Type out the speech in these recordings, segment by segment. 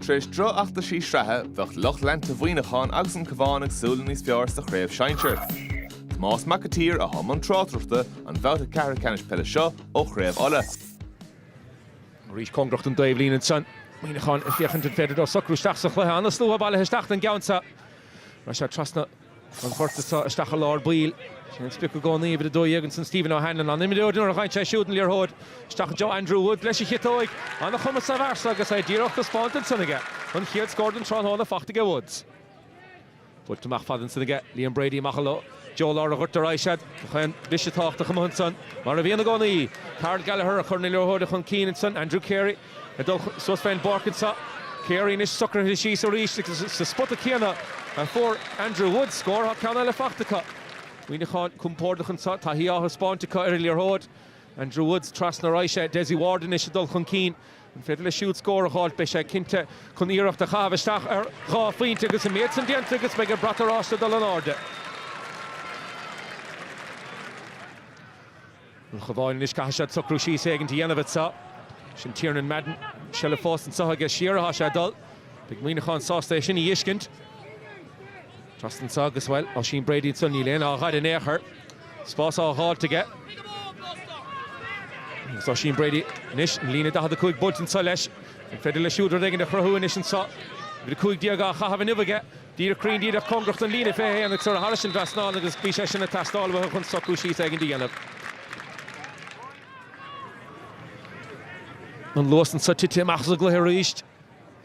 Tar éis drochfheachtaisí sraithe, bheadh lucht leanta Mhuineacháin agus an Cabhán ag súil le níos fearr sa chraobh shinsir. Tomás Mac an tSaoir atá i mbun tráchtaireachta don bhabhta ceathrú ceannais peile seo ó Chraobh Uladh. Arís cóngarach don dtaobhlíne ansan. Muineacháin ag féachaint an féidir leo socrú isteach sa chluiche. An-slua bailithe isteach don gceann seo. Ar aghaidh sé trasna. An babhta so, isteach i lár baill sin an sprioc i gcónaí, uimhir 12 ansan, Stephen O'Hanlon, an-imreoir, nuair a ghabhann sé siúd an liathróid isteach i dtreo Andrew Woods leis an chiotóig. An-chumas sa bhfear so agus é díreach taispeánta ansan aige. An chéad scór den tráthnóna faighte aige Woods. Buailte amach fada ansan aige Liam Brady amach i dtreo lár an ghoirt ar aghaidh siad. Nach aon bhisitáocht a chumadh ansan mar a bhíonn i gcónaí. Karl Gallagher a chuireann an liathróid chun cinn ansan. Andrew Carey. Ag dul suas fén bpáirc anseo, Carey anois socraithe síos arís is sa spota céanna a fuair Andrew Woods scór. Tá ceann eile faighte acu. Muineachán compordach anseo, taithí á thaispeáint acu ar an liathróid. Andrew Woods trasna, ar aghaidh sé, Dessie Ward anois ag dul chun cinn. An féidir leis siúd scór a dh'fháilt? Beidh sé cinnte chun iarracht a chaitheamh isteach ar dhá phointe agus an méid san déanta agus beidh an brat oráiste ag dul in airde. An Cabhán anois caithfidh siad socrú síos éigint a dhéanamh anseo. Sin Tiernan Madden, seilbh fós anseo aige, siar athá sé ag dul. Beidh Muineachán sásta é sin a dh'fhiscint. Trasna anseo agus, bhuel, Oisín Brady anseo, níl aon lámh á chur air in aon chor. Spás á dh'fháilt aige. Agus Oisín Brady anois an líne 45 buailte anseo leis. An féidir leis siúd rud éigint a chruthú anois anseo? Uimhir 15 á chaitheamh inniu aige. Díreach cruinn díreach cóngarach don líne 21 agus ar aghaidh thairis an trasnán agus bhí sé sin ag teastáil uathu chun socrú síos éigin do dhéanamh. An luas anseo tite amach as an gcluiche arís.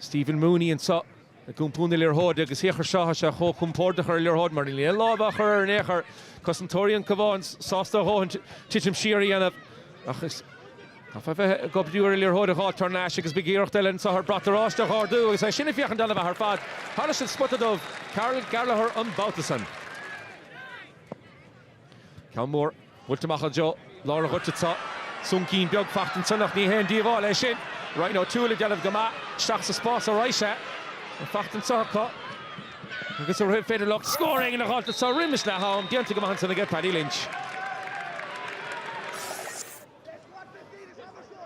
Stephen Mooney anseo ag iompú na liathróide agus féach air seo, tá sé chomh compordach ar an liathróid mar níl aon lámh á chur air in aon chor. Cosantóirí an Cabháin sásta a dhóthain titim siar a dhéanamh ach is. Tá fiche go leith de liathróid a dh'fháilt thar n-ais agus beidh iarracht eile anso ar bhrat oráiste a dh'árdú agus é sin ag féachaint ana-mhaith ar fad thairis an spota dubh Karl Gallagher an babhta san. Ceann mór buailte amach i dtreo lár an ghoirt, tá súncín beag fachta ansan ach ní haon díobháil é sin. Ryan O'Toole ag déanamh go maith isteach sa spás ar aghaidh sé an fachta anso acu agus an féidir leo scór éigin a dh'fháilt anso roimis leath-am déanta go maith ansan aige Paddy Lynch.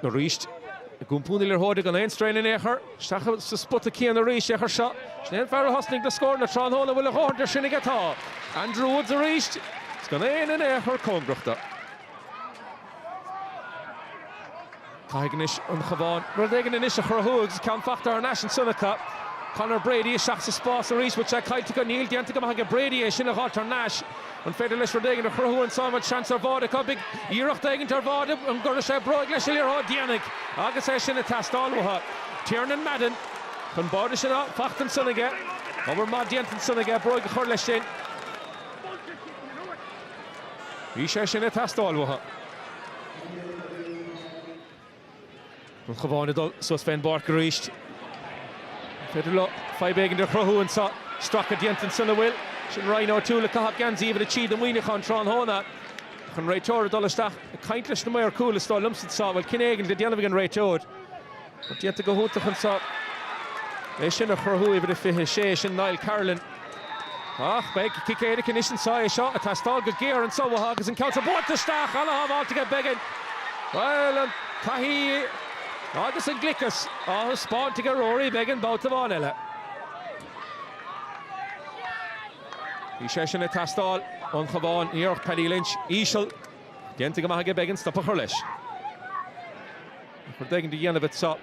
Arís, ag iompú na liathróide gan aon straidhn in aon chor. Isteach sa spota céanna arís, féach air seo. Sin é an fear a thosnaigh na scóranna tráthnóna an bhfuil a dhóthain de sin aige. Tá Andrew Woods arís is gan éinne in aon chor cóngarach dó. Caithfidh anois an Cabhán rud éigin anois a chruthú agus ceann fachta thar n-ais ansan acu. Conor Brady isteach sa spás arís, bhfuil sé caillte acu? Níl, déanta go maith aige Brady é sin a dh'fháilt thar n-ais. An féidir leis rud éigin a chruthú anso an bhfuil seans ar bháide acu beidh iarracht éigint ar bháide an gcuirfidh sé bróig leis an liathróid déanfaidh agus é sin ag teastáil uathu. Tiernan Madden Chun báide sin fachta ansan aige obair maith déanta ansan aige bróig a chur leis sin bhí sé sin ag teastáil uathu. An Cabhán ag dul suas fén bpáirc arís. An féidir leo fadhb éigin a chruthú anseo? Stracadh déanta ansan an bhfuil. Sin Ryan O'Toole ag caitheamh geansaí uimhir a trí do Mhuineachán tráthnóna. Ach an réiteoir ag dul isteach ag caint leis na maoir cúil is dóigh liomsa anseo. Bhuel, cinneadh éigin le déanamh ag an réiteoir. Déanta go hiontach anseo. É sin a chruthú, uimhir a fiche a sé, sin Niall Carolan. Ach beidh cic éirice anois anseo, é seo ag teastáil go géar anseo uathu agus an ceann seo buailte isteach, an-shábháil aige Beggan. Bhuel, an taithí agus an gliceas á thaispeáint aige Rory Beggan babhta amháin eile. Bhí sé sin ag teastáil ón Chabhán, iarracht Paddy Lynch íseal déanta go maith aige Beggan stop a chur leis. Rud éigin a dhéanamh anseo,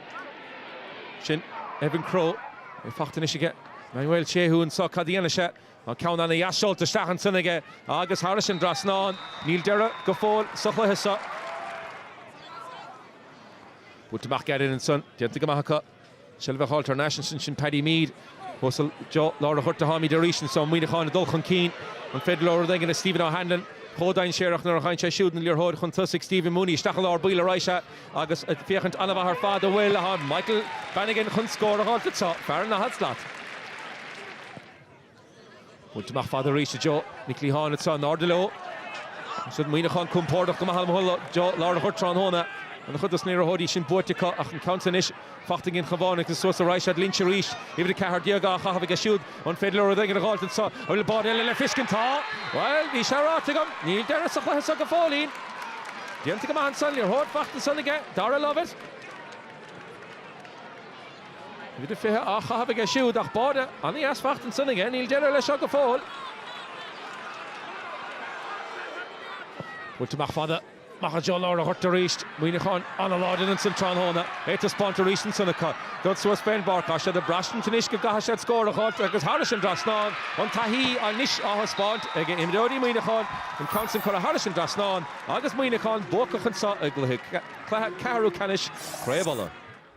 sin Evan Crowe, é fachta anois aige. Emmanuel Shehu anseo? Cad a dhéanfas sé? An ceann an-dheas seolta isteach ansin aige agus thairis an dtrasnán. Níl deireadh go fóill sa chluiche seo. Buailte amach gairid ansan. Déanta go maith acu. Seilbh a fháil thar n-ais ansin sin Paddy Meade. Suas i dtreo lár an ghoirt. Táimid arís anso. Muineachán ag dul chun cinn. An féidir leo rud éigin a Stephen O'Hanlon? Chomh dainséarach nuair a fhaigheann sé siúd an liathróid chun tosaigh. Stephen Mooney isteach i lár baill ar aghaidh. Sea. Agus féachaint an-mhaith ar fad an bhfuil Michael Bannigan chun scór a fháil anseo. Fear an daichead slat. Buailte amach fada arís i dtreo na cliatháin anseo. In airde leo. Siad Muineachán compordach go maith i dtreo lár an ghoirt tráthnóna. An-chuid dos na liathróidí sin buaite acu ach an ceann seo anois. Fachta ag an gCabhán agus suas ar aghaidh siad Lynch arís, uimhir 14, á chaitheamh aige siúd. An féidir leo rud éigin a dh'fháilt anso an bhfuil báide eile le fiscint? Tá. Bhuel, bhí sé ráite agam. Níl deireadh sa chluiche so go fóillín. Déanta go maith ansan, liathróid fachta ansan aige Darragh Lovett, uimhir 20, á chaitheamh aige siúd, ach báide ana-dheas fachta ansan aige. Níl deireadh leis seo go fóill. Buailte amach fada. Amach i dtreo lár an ghoirt arís. Muineachán an-láidir ansin tráthnóna. É ag taispeáint arís ansan acu. Dul suas fén bpáirc. Tá siad ag braistint anois go gcaithfidh siad scór a fháilt agus thairis an dtrasnán. An taithí anois á thaispeáint ag imreoirí Mhuineacháin. An ceann san curtha thairis an dtrasnán agus Muineachán buacach anseo i gcluiche ceathrú ceannais Chraobh Uladh.